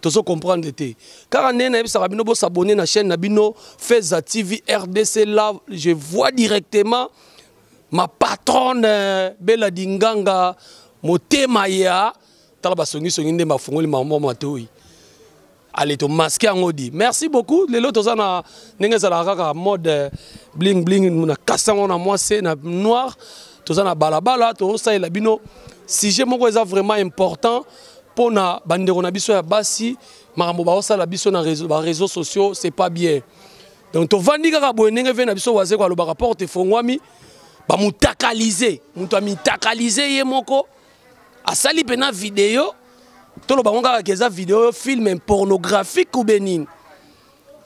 tozo comprendre te kaka ndenge nayebisaka bino bosabone na chaîne na bino feza tv rdc là je vois directement ma patronne euh, bela dinganga motema ya tala basongisongi nde bafungoli mambo matoi ale tomaske yango di merci beaucoup lelo toza na ndenge ezalaka kaka mode euh, bling bling na kasi yango na mwase na noir toza na balabala tozosalela bino sujet moko eza vraiment important mpo na bandeko na biso ya basi makambo baosala biso na bareseau sociaux c'est pas bien donc tovandi kaka boye ndenge ve na biso wazeko alobaka porte efongwami bamutakalise moto amitakalise ye moko asali mpena video toloba ngo kaka eza video film pornographique ube nini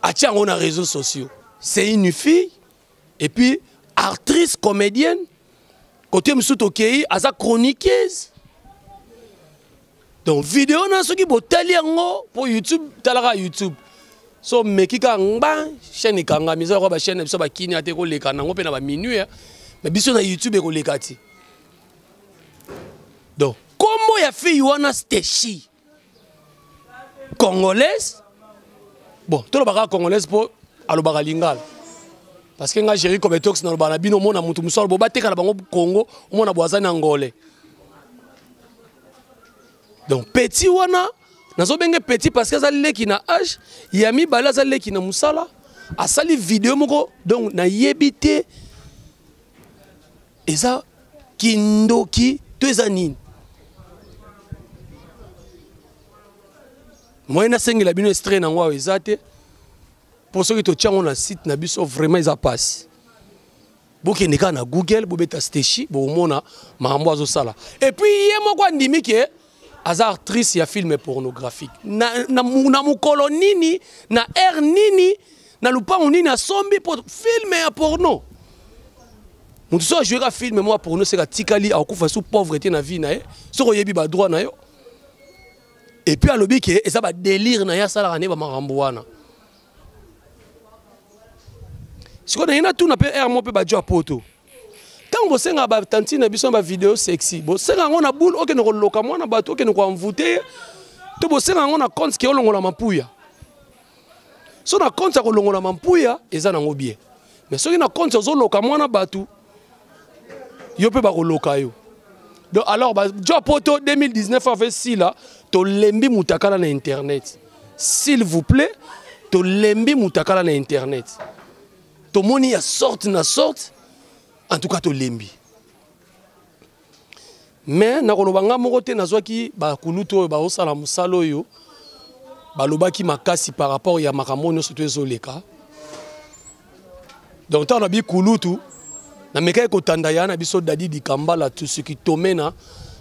atia yango na réseau sociaux c'est une fille et puis actrice comédienne côté mosusu tokei aza chroniqueuse donc video na soki botali yango mpo youtube talaka youtube so meki kaka ngba chaîne ekangami eza lokola bachaîne na biso bakini ata ekoleka nango mpe na baminuit mais biso na youtube ekoleka ti donc nkombo ya fille wana steshi congolaise bon toloba kaka congolaise mpo alobaka lingala parce que ngai géri cometox nalobaka na bino omona motu mosusu aloba bateka na bango congo omona bo aza na ngole donc petit wana nazobenge petit parce que aza leki na age ya mibale aza leki na mosala asali video moko donc nayebi te eza kindoki to eza nini moyen nasengela bino estre nango awa eza te mpo soki totya yango na site na biso vraiment eza mpasi bokende kaka na google bobeta steshi bokomona makambo azosala epuis ye moko andimi ke aza actrice ya film pornographique na, na, na mokolo nini na aire nini na lupango nini asombi po filme ya porno moto soki ajoueka filme moko ya porno seka atikali akokufa sous pauvreté na vie na ye soki oyebi badroit na yo epuis alobi ke eza badelire na ye asalaka nde bamakambo wana sikoyo na ye natuna mpe aire moko mpe bajo ya poto ntango bosengaka batantine na biso na bavideo sexy bosenga yango na boule okende koloka mwana bato okende koanvoute ye to bosenga yango na compte ke olongola mampuya so na compte ya kolongola mampuya eza nango bie me soki na compte ozoloka mwana bato yo mpe bakoloka yo donc alors bajo poto 2019 ave sila tolembi mutakala na internet s'il vous plaît tolembi mutakala na internet tomoni ya sorte na sorte en tout cas tolembi mais nakoloba ngai moko te nazwaki bakulutu oyo baosala mosala oyo balobaki makasi par rapport ya makambo nyonso to ezoleka donc ntango na bikulutu namekaki kotanda ya na biso dadi dikambala tusuki tomena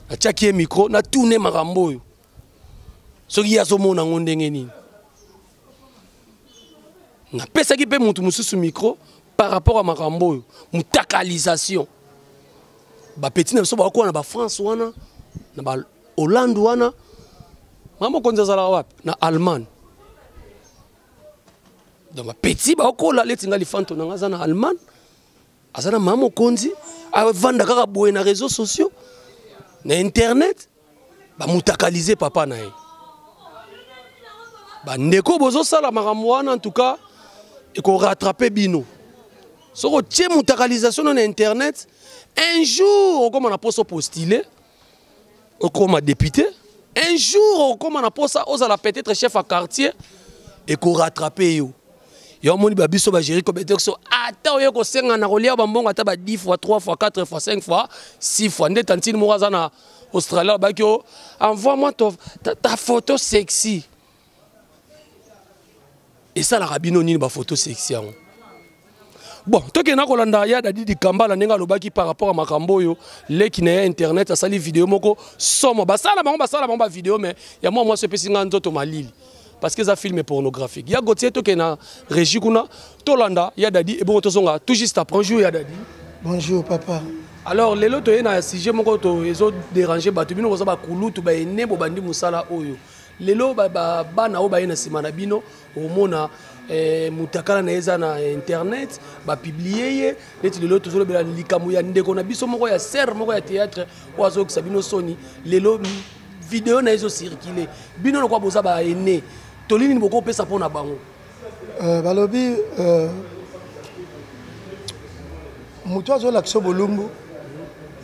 natiaki ye mikro natune makambo oyo soki ye azomona yango ndenge nini napesaki mpe moto mosusu micro par rapport ya makambo oyo motakalisation bapeti na biso bakokuwa na bafrance wana na bahollande wana ma mokonzi azalaka wapi na allemagne donc bapeti bakokola leti ngai lifanto na ngai aza na allemagne aza na mama mokonzi avanda kaka boye na réseau sociaux na internet bamutakalize papa na ye bandeko bozosala makambo wana ntuka ekoratrape bino soki otie mutakalisation no na internet un jour okóma na mposa opostile okóma député un jour okóma na mposa ozala peut-être chef ya quartier ekoratrape yo yo omoni ba biso bageri kobete biso ata oye kosenga na kolia bambongo ata ba 10 fois 3 fois 4 fois 5 fois 6 fois nde tantine moko aza na australie alobaki o envoie moi to, ta, ta photo sexy esalaka bino nini bafoto sexy yango bon tokenda kolanda ya dadi dikambala ndenge alobaki par rapport ya makambo oyo leki na ye internet asali video moko somo basala bango basala bango bavideo me ya mwa mwasi epesi ngai nzoto malili parce que eza film pornographique ya Gauthier tokende na régie kuna tolanda ya Dadi ebongo tozonga tout juste après bonjour ya Dadi bonjour papa alors lelo toye na sujet moko to ezo déranger bato bino boza bakulutu baene bobandi mosala oyo lelo bana oyo baye na nsima na bino omona eh, mutakala na ye eza na internet bapiblie ye neti lelo tozolobela likambo ya ndeko na biso moko ya serre moko ya théâtre oyo azokisa bino soni lelo video na ezo circuler bino lokwa boza ba aine toli nini bokopesa mpo na bango euh, balobi euh, moto azolakisa bolumbu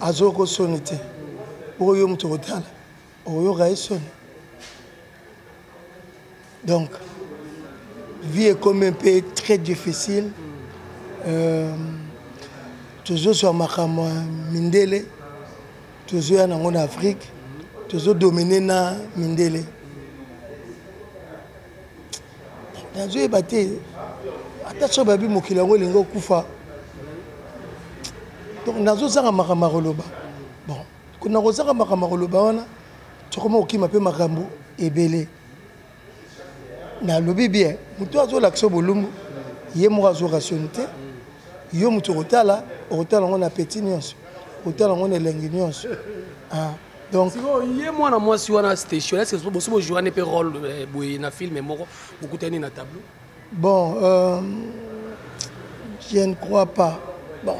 azoko soni te oyo moto okotala okoyoka ye soni donc vie ekomi mpe très difficile euh, tozozwa makambo ya mindele tozoya nango na afrique tozodomine na mindele nazoyeba te ata soki babi mokili yango elingi okufa donc nazozanga makambo ya koloba bon nakozanga makambo ya koloba wana tokoma kokima mpe makambo ebele nalobi bien moto azolakisa bolumbu ye moko azwa rationi te yo moto okotala okotala yango na peti nyonso okotala yango na elengi nyonso ah, donc ye mwana mwasi wana station ese bosi bojouane mpe role eh, boye na filme moko bokutani na tableau Bon, euh, je ne crois pas. Bon.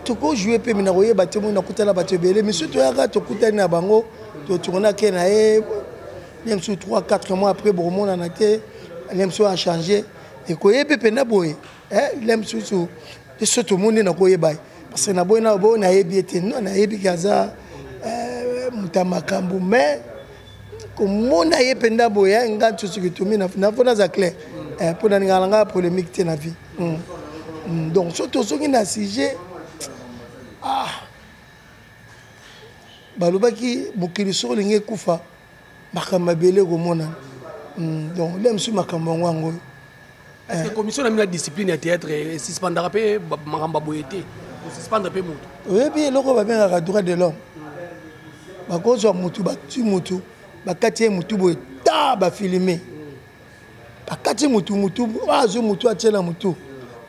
tokojoue mpe mina koyeba te moi nakutana bato ebele misu toyaka tokutani na bango totournake na ye ne misu 3 4 mois après bokomonana te ne misu achange ekoyebi mpenza boye le misusu biso tomoni nakoyeba ye parce que naboyi na boyo nayebi ye te no nayebi ke aza moto ya makambo mais komona ye mpenza boye eh, nga nsusu kitomi mpo naza clair eh, mpo na lingaka na ngai ya polémique te na vie hmm. Hmm, donc so tozongi na sujet ah. balobaki mokili soki olingi ekufa makambo ebele ekomonana hmm, donc nde mosusu makambo yango yango oyo Est-ce que commission na bino ya discipline ya théâtre esuspendaka mpe makambo ya boye te kosuspendre mpe motu oyebi eloko babengaka droit de l'homme bakozwa motu batui motu bakati ye motu boye ta bafilme bakati motu motu azwi motu atie na motu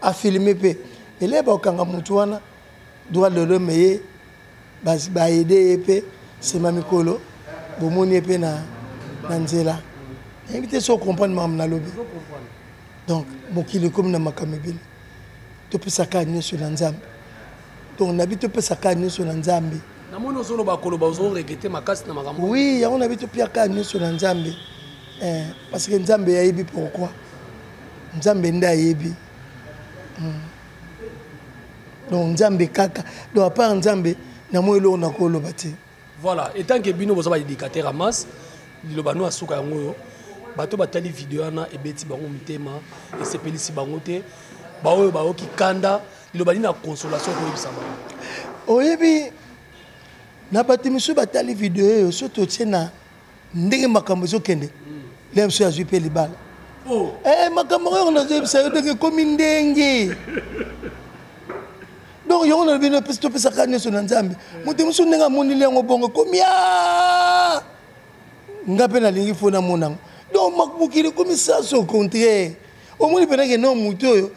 afilme mpe eleye bakokanga motu wana droit de l'homme ye basi ba aide ye pe sema mikolo bomoni ye pe na na nzela nayebi te so comprendre makambo nalobi donc mokili ekomi na makambo ebele topesaka nyonso na nzambe donc nabi topesaka nyonso na nzambe namoni ozoloba koloba ozoregete makasi na makambo oui yango nabi topiaka nyonso na nzambe eh, parce que nzambe ayebi pourquoi nzambe nde ayebi mm. donc nzambe kaka donc apart nzambe na moi eloko nakoloba te voilà etant ke bino boza baéducateur ya masse liloba no asuka yango oyo bato batali video wana ebeti bango motema esepelisi bango te baoyo bayoki kanda liloba nini na consolation koyebisa bango oyebi na bato mosusu batali video oyo so totie na ndenge makambo ezokende lelo biso azwi mpe libala oh. eh, makambo yango nazoyebisa yo ndenge ekomi ndenge donc yango na bino pesi topesaka nyonso na nzambe eh. moto mosusu ndenge amoneli yango bongo ekomi ah! nga mpe nalingi fo namona yango donc mokili ekomi sanso contraire omoni mpenake no moto oyo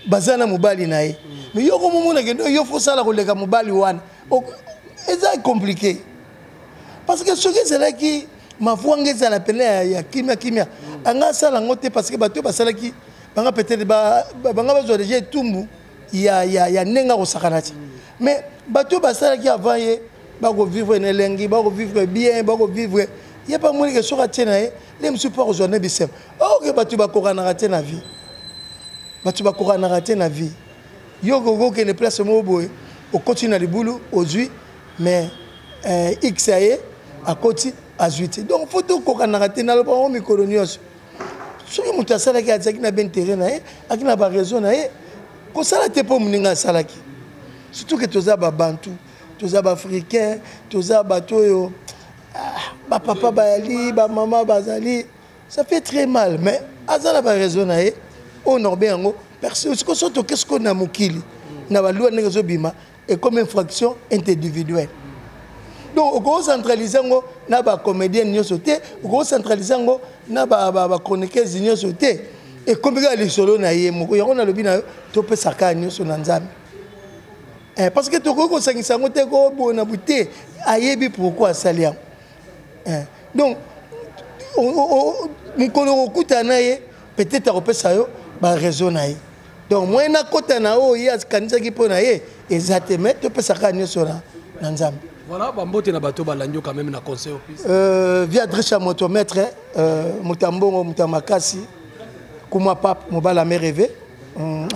baza na mobali na ye mais yo komomona ke yo fosala koleka mobali wana eza compliqué parce que soki ezalaki mavuanga ezala pene ya kimia kimia anga asala yango te parce que bato oyo basalaki banga peut-être banga bazwa deja etumbu ya, ya, ya ndenge akosakana te mais bato oyo basalaki avant ye bakovivre na elengi bakovivre bien bakovivre ye mpe amonike soki atie na ye nde mosusu mpo akozwa nde bisema oke oh, bato bakokanaka te na vie bato bakokanaka te na vie yo okoki okende place moko boye okoti na libulu ozwi mais eh, x ya ye akoti azwi te donc fo tokokanaka te naloba yango mikolo nyonso soki moto asalaki azalaki na baintere na ye aki na baraison na ye kosala te mpo moninga asalaki surtout ke toza babantu toza baafricain toza bato oyo ah, bapapa bayali bamama bazali ça fait très mal mais aza na baraison na ye oyo norbe yango siko so toke sikoyo na mokili na balua ndenge ezobima ekomi infraction individuelle donc okocentralise yango na bacomédienne nyonso te okocentralise yango na bachroniqueuse nyonso te ekomi kaka lisolo na ye moko yango nalobi na yo topesa kaka nyonso na nzambe eh, parce que tokoki kosangisa yango te kobona bote ayebi pourkui asali yango eh, donc mokolo okokutana na ye peut-être akopesa yo baraison na ye donc moyen nakota na oyo ye akanisaki mpo na ye eza te mai topesaka nyonso na nzambe voilà bambote na bato balandi yo quand même na conseil opesi euh, via adresse ya moto maître euh, moto ya mbongo moto ya makasi kuma pape mobala me reve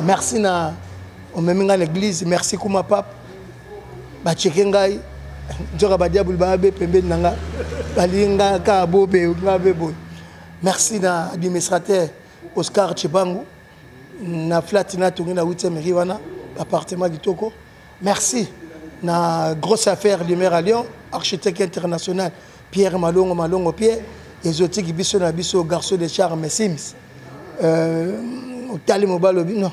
merci na omemi ngai na église merci kuma pape ba cheke ngai nzoka ba diable ba be pembeni na nga balingi nga ka bobe nga be boye merci na administrateur Oscar Chibangu na flat na tongi na 8e rue wana appartement kitoko merci na grosse affaire du maire à Lyon architecte international Pierre Malongo Malongo Pierre ezotiki biso na biso garçon de charme Sims euh, otali mobali obi non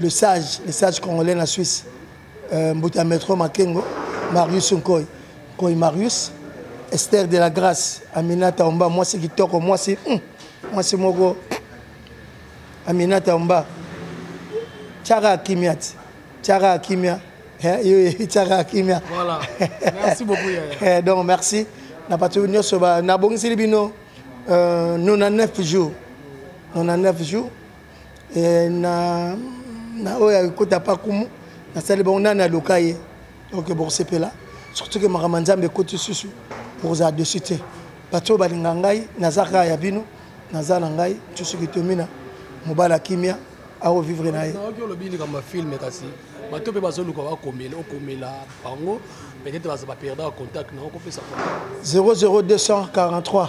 le sage le sage congolais na suisse euh, mbuta ya metro makengo marius nkoi nkoi marius esther de la grâce aminata omba mwasi kitoko mwasi mm, mwasi moko aminata omba tiara akimia ti tiara akimia eh, tiara akimia voilà. merci beaucoup, yaya. Eh, donc merci na bato nyonso nabongiseli bino euh, 99 jours 99 jours eh, na na oyo ekota pa kumu nasali bango nani aloka ye donc bokosepela surtout ke makambo ya nzambe ekoti susu bokozala dessus te bato oyo balinga ngai naza kaka ya bino naza na ngai tusu kitomina mobali ya kimia akovivre na ye nayoki olobi likambo ya filme kasi bato mpe bazoluka bakomela okomela bango peut-être baza baperdaka contact na okopesa 00243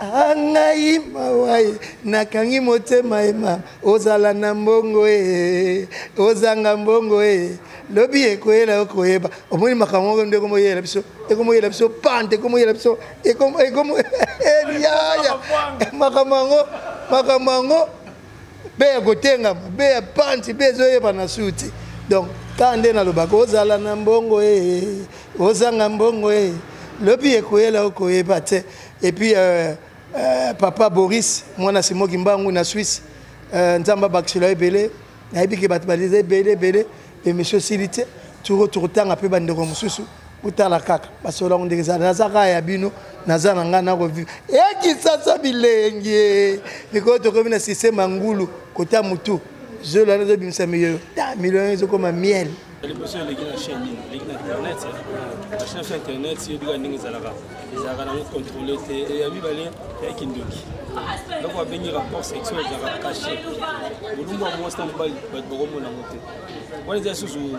Ah, ngai mawa ye nakangi motema ye mama ozala na mbongo e ozanga mbongo e lobi ekoyela yo koyeba omoni makambo moko nde ekomoyela biso ekomoyela biso pante ekomoyela biso ekomoyaya makambo yango makambo yango mpe ya kotengama mpe ya panti mpe ezoyeba na su te donc kaka nde nalobaka ozala na mbongo e ozanga mbongo e lobi ekoyela okoyeba te epuis euh, euh, papa boris mwana simoki mbangu na swisse euh, nzambe abakisela ebele nayebi ke bato baliza ebele ebele emission esili te turo tokotanga mpe bandeko mosusu botala kaka masolo yango ndenge eza naza kaka ya bino naza na ngai nakoviva ekisasa bilengi mikolo tokomi na systeme ya ngulu kota motu zolo wana ezobimisa miyoyo ta milio ezokoma miel liboso eleki na chaine nini eleki na internet machine afi internet yebika ndenge ezalaka ezalaka nango contrôle te ya mibale ya kindoki eloko babengi rapport sexuel ezalaka cache bolumbu ya mwasi na mobali bato bakomona yango te wana eza lisusu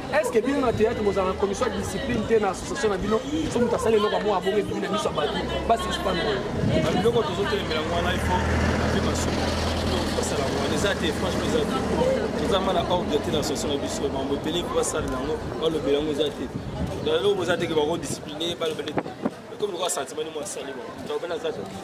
est ce que bino na théâtre bozala na commission ya discipline te na association na bino so moto asali eloko yango abongo ebimi na miso ya bato basuspendre biloko tozotelemela yango wana ifo mpe masuku basala yango wana eza te franchement eza te eza ma na ordre te na association na biso mambo ebele mpo basalela yango balobela yango eza te eloko boza te ke bakodiscipline balobele te ekomi lokola sentiment ni mwa asali bango tobena eza te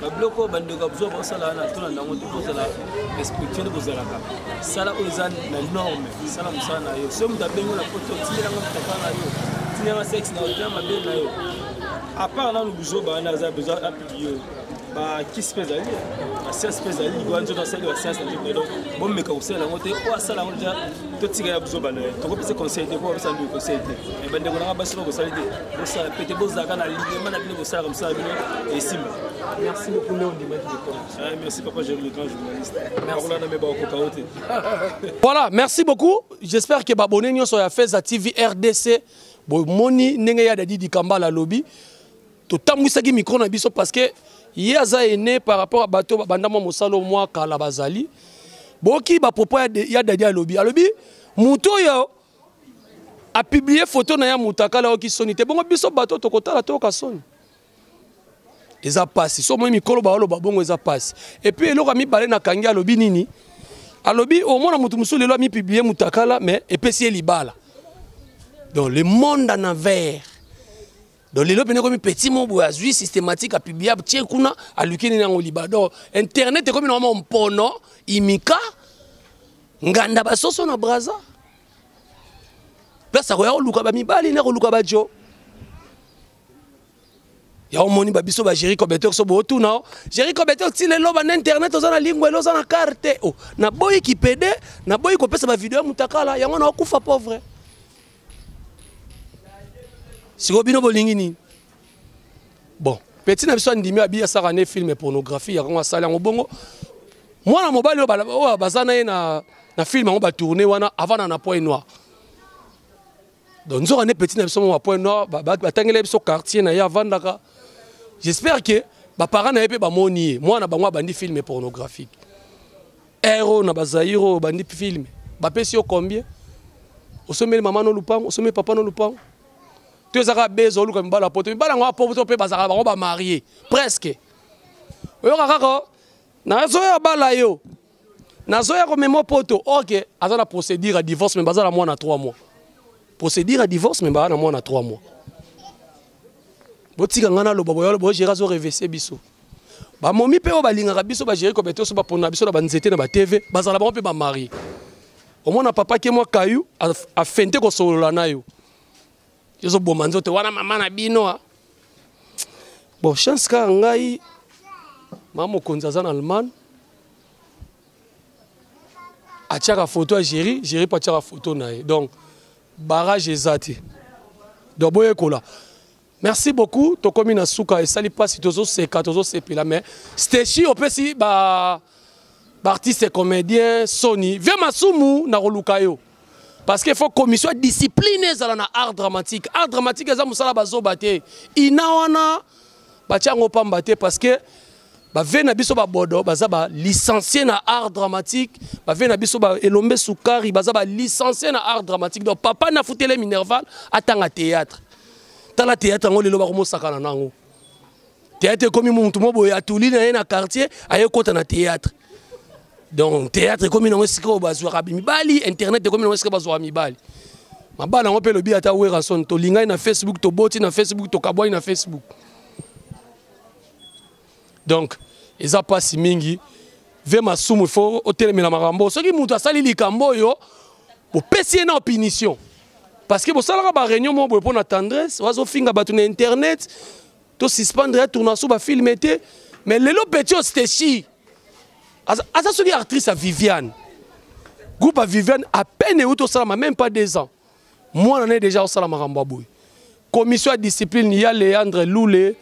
babiloko oyo bandeko ya buzoba basala wana tona nango te kozala respectuele kozalaka sala oyo eza na norme sala mosala na yo soki moto abengi na poto tindelanga motaka na yo tindelanga sexe na otea mabe na yo apart nanu buzoba wana aza besoin apiblie oyo bakisi mpe ezali basianse mpe ezali likola nzoto asali basianse na nzoto donc bomeka kosala yango te oyo asala yango deja totika ya buzoba na ye tokopesa conseil te po bapesa nduki conseil te bandeko nanga basi bakosali te bosala pete bozalaka na linema na bino bosalaka mosala bino esimba merci beaucoup nde ondimaki likoma ah, merci papa jeri le grand journaliste bakolanda me bakokoka yo te voilà merci beaucoup j'espère que babone nyonso ya feza tv rdc bomoni ndenge ya dadi dikambala alobi totambwisaki micro na biso parce que ye aza ene par rapport ya bato babanda mwa mosala mwa kala bazali boki bapropos ya dadi alobi alobi moto oyo a publier photo na ya mutakala oyoki soni te bongo biso bato tokotala toyoka soni eza pasi so moi mikolo baoloba bongo eza pasi epuis eloko ya mibale nakangi alobi nini alobi omona moto mosusu lelo amipiblie mutakala mais epesi ye libala donc le monde en envers donc lelo mpena ekomi petit mo boye azwi systématique apiblia tie kuna aluki nini yango liba donc internet ekomi na mwa mpono imika nganda basoso na braza place akoya koluka bamibali na koluka bajo ya omoni ba biso ba Jericho Betex so botuna o Jericho Betex ti lelo ba na internet oza na lingua elo oza na carte o na boyi kipede na boyi kopesa ba video ya mutakala yango na okufa pauvre sikoyo bino bolingi nini bon peti na biso andimi abi asaka ne filme pornographie yango asali yango bongo mwana mobali oyo baza na ye na, na filme yango batourne wana avanda na point noir donc nzoka nde peti na biso moko bapoint noir batangela biso quartier na ye avandaka j'espère que baparent na ye mpe bamoni ye mwana bango abandi filme pornographique heure oyo na bazaire oyo bandi filme bapesi yo combien osombeli mama no lupango osombeli papa no lupango to ezaka beza oluka mibala poto mibala yango apoto mpe bazalaka bango bamarie presque oyoka kaka nazoya bala yo nazoya komema poto ok aza na procédure ya divorce me baza na mwana 3 mois procédure ya divorce me baza na mwana 3 mois botika ngai naloba boyalo bogere azo revese biso bamomi mpe oyo balingaka biso bagere kobete oso baponaka biso na banzete na batv bazala bango mpe bamarie omona papa ke mwa kayu afente kosolola na yo ezoboma nzoto wana mama na bino ah. bon chance kaka ngai mama mokonzi aza na allemagne atiaka foto ya géri géri mpe atiaka foto na ye donc barrage eza te donc boyekola merci beaucoup tokomi na suka esali mpasi tozoseka tozosepela mais steshi opesi ba baartiste comédien soni vie masumu nakoluka yo parce que faut commission ya discipline ezala na art dramatique art dramatique eza mosala bazoba te ina wana batia yango pamba te parce que bave na biso babodo baza balicencie na art dramatique bave na biso elombe sukari baza balicencie na art dramatique donc papa nafutele minerval atanga théâtre tala théâtre yango lelo bakomosakana na yango théâtre ekomi motu mo boye atuli na ye na quartier aye kota na théâtre donc théâtre ekomi nango esika oyo bazwaka mibali internet ekomi nango esika bazwaka mibali mabala yango mpe elobi ata werason tolingani na facebook toboti na facebook tokabwani na facebook donc eza mpasi mingi ve masumu fo otelemela makambo soki moto asali likambo oyo bopesi ye na opinition parce que bosalaka bareunion moko boye mpo na tendresse wazofinga bato na internet to suspendre ya tournaso ba filme te mais lelo petit o steshi aza soki actrice ya viviane groupe ya viviane à peine euti osalama même pas deux ans mwana naye déjà osala makambo ya boye commission ya discipline ya leandre lule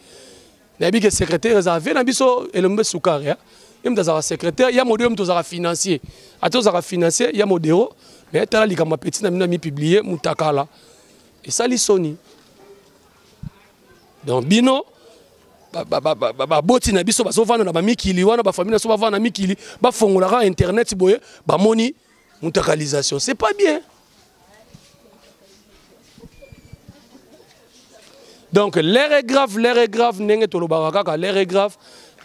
nayebi ke secrétaire ezala vie na biso elombe sukari ye moto azalaka secrétaire ya modero moto ozalaka financier ata ozalaka financier ya modero mais tala likambo ya petit na bino amipublie mutakala esali soni donc bino baboti na biso bazovanda na bamikili wana bafamili na biso bavanda na mikili bafongolaka internet boye bamoni mutakalisation c'est pas bien donc l'air est grave l'air est grave ndenge tolobaka kaka l'air est grave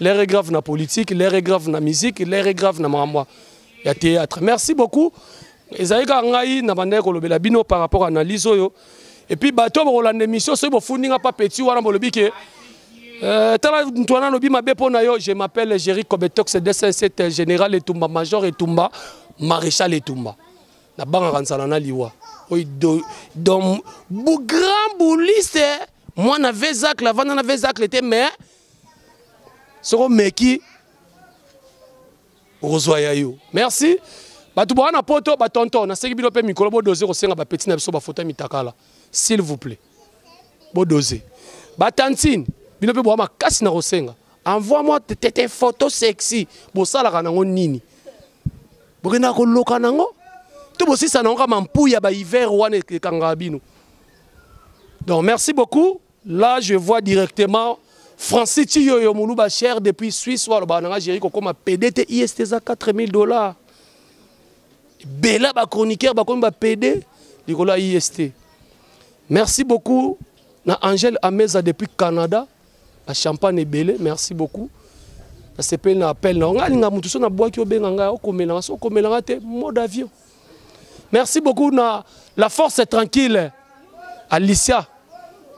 l'air est grave na politique l'air est grave na musique l'air est grave na makambo ya théâtre merci beaucoup ezali kaka ngai na bandaki kolobela bino par rapport à analyse oyo et puis bato bokolanda émission soki bofundi nga pa petit wana bolobi ke Euh, tala moto wana alobi mabe mpo na yo je m'appelle géri cobetox 207 général etumba major etumba maréchal etumba nabangaka nzala na liwa oyo do, do, bo, grand bouliste mwana vezacle avanda na vezacle te mais soko meki okozwa ya yo merci bato boa na poto batonton naseki bino mpe mikolo bodose kosenga bapeti na biso bafoto ya mitakala s'il vous plaît bodose batantine bino mpe boa makasi na kosenga envoie moi tete photo sexy bosalaka nango nini bokendaka koloka nango to bosisa nango kama mpuya bahiver wana ekangaka bino donc merci beaucoup Là, je vois directement Francis Chiyoyo Muluba cher depuis Suisse, ou alors Nanga Jericho comme PD, IST 4000 dollars. Bella, ba chroniqueur, ba comme ba PD, Nicolas IST. Merci beaucoup, na Angèle Ameza depuis Canada, la champagne est belle, merci beaucoup. nasepeli na appel na yo ngai alinga moto so nabwaki obenga ngai okomelanga so okomelanga te mode avion Merci beaucoup na la force est tranquille. Alicia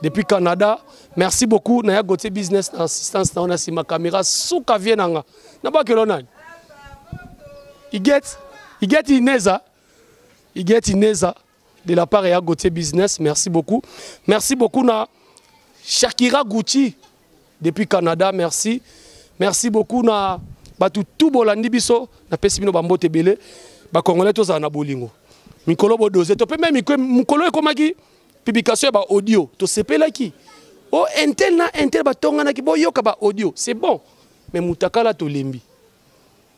depuis Canada. Merci beaucoup na ya Gauthier business na assistance na ona sima camera suka vie nanga. Na ba kelo nani? Il get il get Ineza. Il get Ineza de la part ya Gauthier business. Merci beaucoup. Merci beaucoup na Shakira Gucci. depuis Canada merci merci beaucoup na bato tout bolandi biso napesi bino bambote ebele bacongolais tozala na bolingo mikolo bodose to mpe me mikolo ekomaki publication ya baaudio tosepelaki o oh, intel na intel batonganaki boyoka baaudio c'est bon mais mutakala tolembi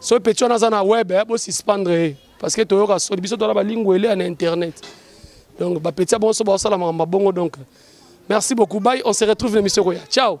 soki peti wana aza na web eh, bosuspendre ye parce que toyoka soni biso toza na balingu elea na internet donc bapeti ya bonso baosala makambo bongo donc merci beaucoup bai on se retrouve na émission koya ciao